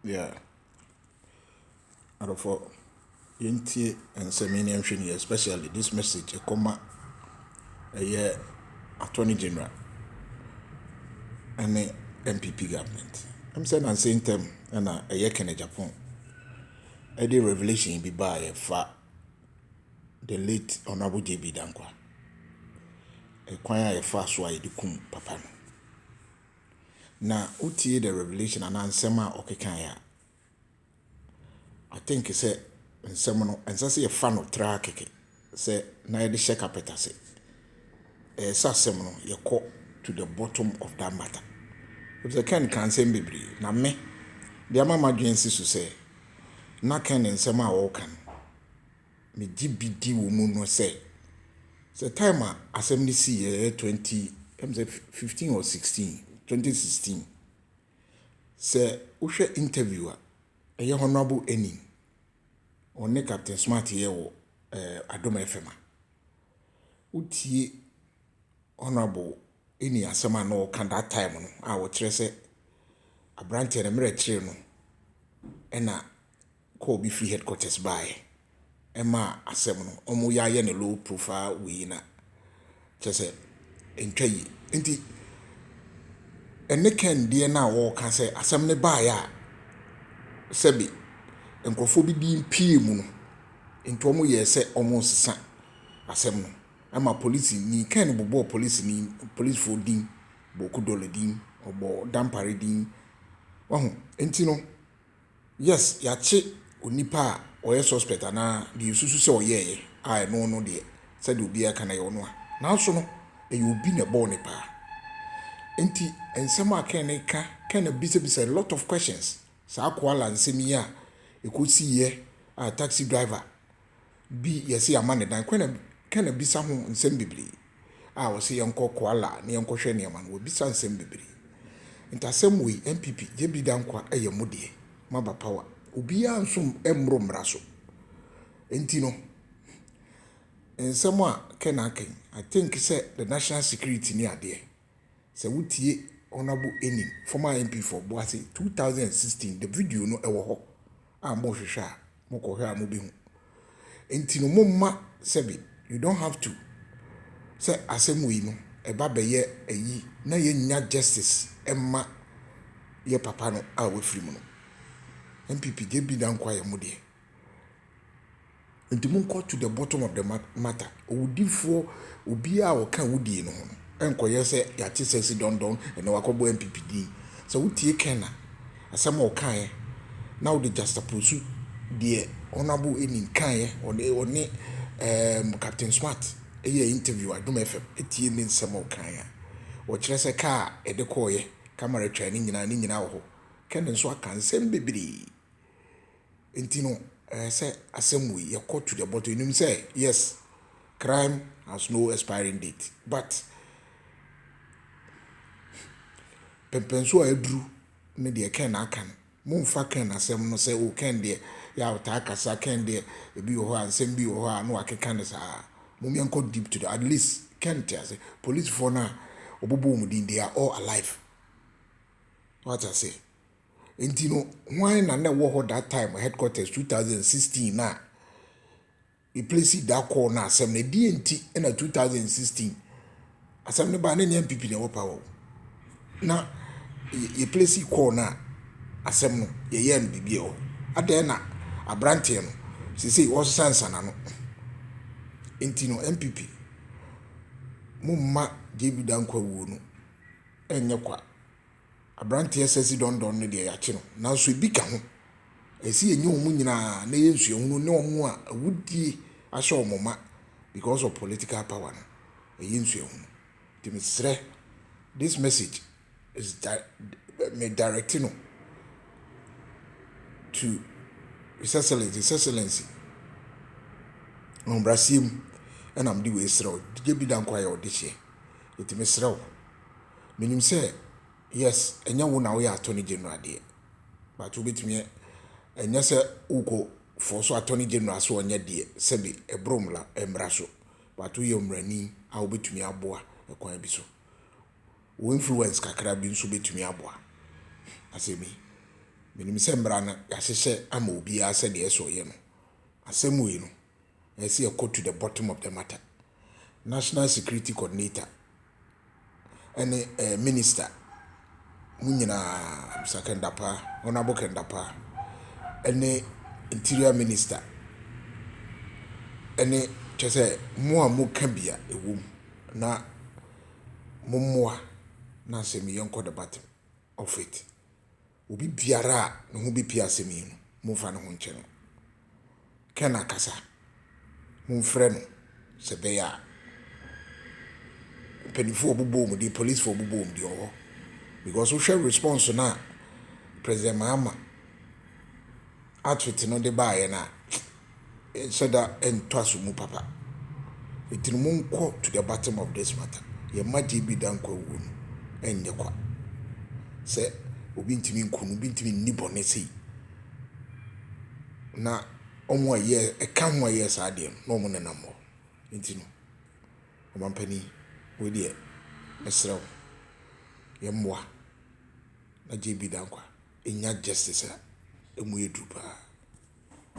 Yeah, adɔfoɔ yɛntie nsɛm yi na yɛnhwɛ no yie especially this message ɛkɔma ɛyɛ attorney general ɛne NPP government ɛm sɛ nansa ntam ɛna ɛyɛ Kenneth Agyapong ɛde revelation bi baeɛ fa the late honourable JB Danquah ɛkwan a yɛfaa so a yɛde kum papa no. na wotie the revelation anaa nsɛm a ɔkekae a, I think sɛ nsɛm no ɛnsɛ sɛ yɛfa no traa kɛkɛ sɛ na yɛde hyɛ carpet ase. Ɛyɛ sɛ asɛm no yɛkɔ to the bottom of that matter. Efisɛ Ken ka nsɛm bebree na me de ama m'adwene si so sɛ na Ken nsɛm a ɔreka no megye bi di wɔ mu no sɛ, sɛ time a asɛm no sii yɛ yɛ twenty ɛm sɛ fifteen or sixteen twenty sixteen sɛ wohwɛ interview a ɛyɛ honourable Enim ɔne captain smart yɛ wɔ ɛɛ adom fm a wotie honourable Enim asɛm a na ɔka that time no a ɔkyerɛ sɛ aberanteɛ no mmerɛ kyerɛ no ɛna kɔɔ bi fie headquarters baeɛ ɛmaa asɛm no ɔmo yɛ ayɛ no low profile wei na kyerɛ sɛ ɛntwa yie nti ɛne Ken deɛ no a ɔreka sɛ asɛm no baeɛ a sɛbi nkorɔfoɔ bi din pue mu no nti ɔmo yɛɛ sɛ ɔmo nsesa asɛm no ɛma polisini Ken bobɔɔ polisini polisifoɔ din bɔɔ Kudole din ɔbɔɔ Dampare din wahu nti no Yes yɛakye onipa a ɔyɛ suspect anaa deɛ yɛsusu sɛ ɔyɛeɛ a ɛno no deɛ sɛdeɛ obiara ka no ɛyɛ ɔno a nanso no ɛyɛ obi na ɛbɔɔ no paa nti nsɛm a Ken reka Ken abisabisa a lot of questions saa koala nsɛm yi a ɛkɔsiiɛ a taxi driver bi yɛse yɛama no dan kwan a kwan a bisa ho nsɛm bebree a wɔse yɛnkɔ koala na yɛnkɔhwɛ nneɛma no wɔbisa nsɛm bebree nti asɛm wei NPP JB Dankwa ɛyɛ mo deɛ moaba power obiara nso mmoro mmara so nti no nsɛm a Ken aka yi I think sɛ the national security ne adeɛ Sɛ wo tie Honourable Enim, former MP for Boase, two thousand and sixteen, the video no ɛwɔ hɔ a mo hwehwɛ a mo kɔ hwɛ a mo bɛ hu. Nti no mo mma sɛbi you don't have to sɛ asɛm wei no ɛba bɛ yɛ ayi na yɛ nnya justice ɛmma yɛ papa no a wafiri mu no. NPP deɛ bi da nko ayɛ mo deɛ. Nti monkɔ to the bottom of the matter, owudifoɔ obiara a ɔka awudie no ho no nkɔyɛ sɛ yɛate sɛsi dɔndɔn ɛnɛ wakɔbɔ NPP din. Sɛ wotie Ken a asɛm a ɔkaeɛ na wode juxtapose deɛ Honourable Enin kaeɛ ɔne ɔne ɛɛm Captain Smart yɛɛ interview Adom FM tie ne nsɛm a ɔkaeɛ a ɔkyerɛ sɛ kaa a ɛde kɔeɛ camera twaa ne nyinaa ne nyinaa wɔ hɔ. Ken nso aka nsɛm bebree. Nti no ɛɛ sɛ asɛm wei yɛ kɔ to the bottom yɛ nim sɛ yes crime has no expiring date but pɛmpɛnso a aduru ne deɛ kɛn na aka no mo nfa kɛn na asɛm no sɛ o kɛn deɛ yɛ a ɔtaa kasa kɛn deɛ ebi wɔ hɔ a nsɛm bi wɔ hɔ a na wakeka ne saa mo mɛ nkɔ deep to the at least kɛn te ase polisifoɔ no a ɔbɔbɔ wɔn din they are all alive wate aseɛ. Nti no hwan na na ɛwɔ hɔ that time headquarters two thousand and sixteen na me place da kɔɔ na asɛm na ɛdeɛ nti na two thousand and sixteen asɛm no baa ne nea npp na ɛwɔ power o na yɛ place kɔɔ na asɛm no yɛyɛɛ no biribi ɛwɔ adɛn na aberanteɛ no sesei ɔsesa nsana no nti no npp mo mma JB Dankwa wuo no ɛnyɛ kwa. Aberanteɛ Sesi Dondon no deɛ yɛakye no, nanso ebi ka ho. Ɛsɛ sɛ yɛnya wɔn nyinaa na ɛyɛ nsuahunu ne wɔn a awudie ahyɛ wɔn ma because of political power no, ɛyɛ nsuahunu. Nti mesrɛ, this message is me direct no to His Excellency, His Excellency Ahobrɛaseɛ mu ɛna mede wei srɛ wo, gye bi da nko ara yɛ wo dehyeɛ. Nti mesrɛ wo. Menim sɛ yes ɛnyɛ wo na woyɛ attorney general deɛ but wobɛtumi ɛnyɛ sɛ wokɔ force attorney general sɛ ɔnyɛ deɛ sɛbe ɛboro mmra mmra so but woyɛ mmarani a wobɛtumi aboa ɛkwan bi so wo influence kakra bi nso bɛtumi aboa asɛm yi menim sɛ mmra no yɛahyehyɛ ama obiara sɛdeɛ ɛsɛ ɔyɛ no asɛm wei no. Ɛsɛ yɛkɔ to the bottom of the matter. National security coordinator ɛne ɛɛ minister mo nyinaa Mr Kɛndapa Honourable Kɛndapa ɛne interior minister ɛne kyɛ sɛ mo a mo ka bi a ɛwɔ mu na mo mmoa na asɛm yi yɛnkɔ the bottom of it. Obi biara a ne ho bepue asɛm yi no, momfa ne ho nkyɛ no. Ken akasa. Momfrɛ no sɛ ɛbɛyɛ a mpanyimfo a wɔbobɔ wɔn din, polisifo a wɔbobɔ wɔn din wɔ hɔ. Because wohwɛ response no a President Mahama Atwet no de baeɛ no a, yɛnhyɛ da ntɔ aso mu papa. Enti no monkɔ to the bottom of this matter. Yɛn mma JB Danko awuo no ɛnyɛ kwa. Sɛ obi ntumi nku no, obi ntumi nni bɔne sei. Na wɔn a ɛyɛ ɛka ho a ɛyɛ saa adeɛ no, na wɔn nenam hɔ. Enti no, ɔmampanin, wei deɛ, mesrɛ wo, yɛmmoa. na JB Dankwa nnya justice a emu yɛ duru paa.